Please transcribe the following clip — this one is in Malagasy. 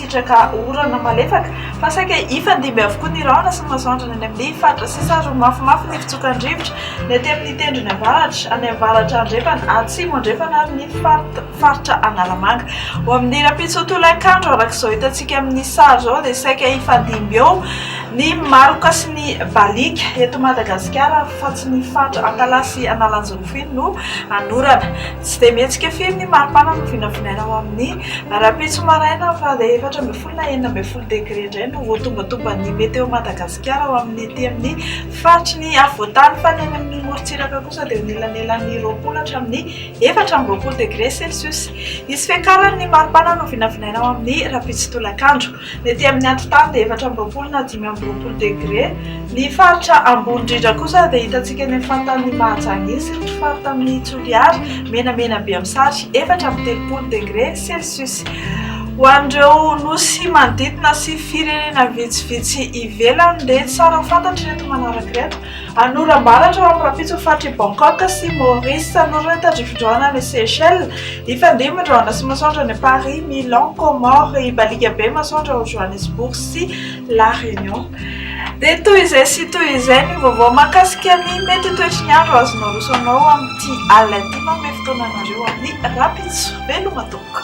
Sitraka orana malefaka fa saika hifandimby avokoa ny rahona sy ny masoandro any amin'ny faritra sisa ary ho mafimafy ny fitsokan-drivotra ny aty amin'ny tendrony avaratra, any avaratra andrefana, atsimo andrefana ary ny faritra Analamanga. Ho amin'ny rahampitso tolakandro araka izao hitantsika amin'ny sary izao dia saika hifandimby eo ny maloka sy ny baliaka eto Madagasikara fa tsy ny faritra Antalaha sy Analanjirofony no hanorana. Tsy dia mihetsika firy ny maripana no vinavinaina ao amin'ny rahampitso maraina fa dia efatra ambin'ny folo na enina ambin'ny folo degre indray no voatombantomban'ny Météo Madagascar ao amin'ny ety amin'ny faritry ny afovoantany fa ny any amin'ny morontsiraka kosa dia eo anelanelan'ny roapolo hatramin'ny efatra amby roapolo degre celsius. Hisy fiakaran'ny maripana no vinavinaina ao amin'ny rahampitso tolakandro. Ny ety amin'ny antontany dia efatra amby roapolo na dimy amby roapolo degre. Ny faritra ambony indrindra kosa dia hitantsika eny amin'ny faritanin'i Mahajanga iny sy ny faritanin'i Toliara, menamena be amin'ny sary, efatra amby telopolo degre celcius. Ho an'ireo nosy manodidina sy firenena vitsivitsy ivelany dia tsara ho fantatry ireto manaraka ireto. Anoram-baratra ao amin'ny rahampitso ny faritry Bangkok sy Maurice. Anorina ny tandrify drôna any Seychelles. Hifandimby ny drôna sy masoandro any Paris, Milan, Comores. Hibaliaka be ny masoandro ao Johannesburg sy La Réunion. Dia toy izay sy toy izay ny vaovao mahakasika ny mety ho toetry ny andro azonao aroso anao amin'ity alina ity. Manome fotoana anareo amin'ny rahampitso. Veloma tompoko.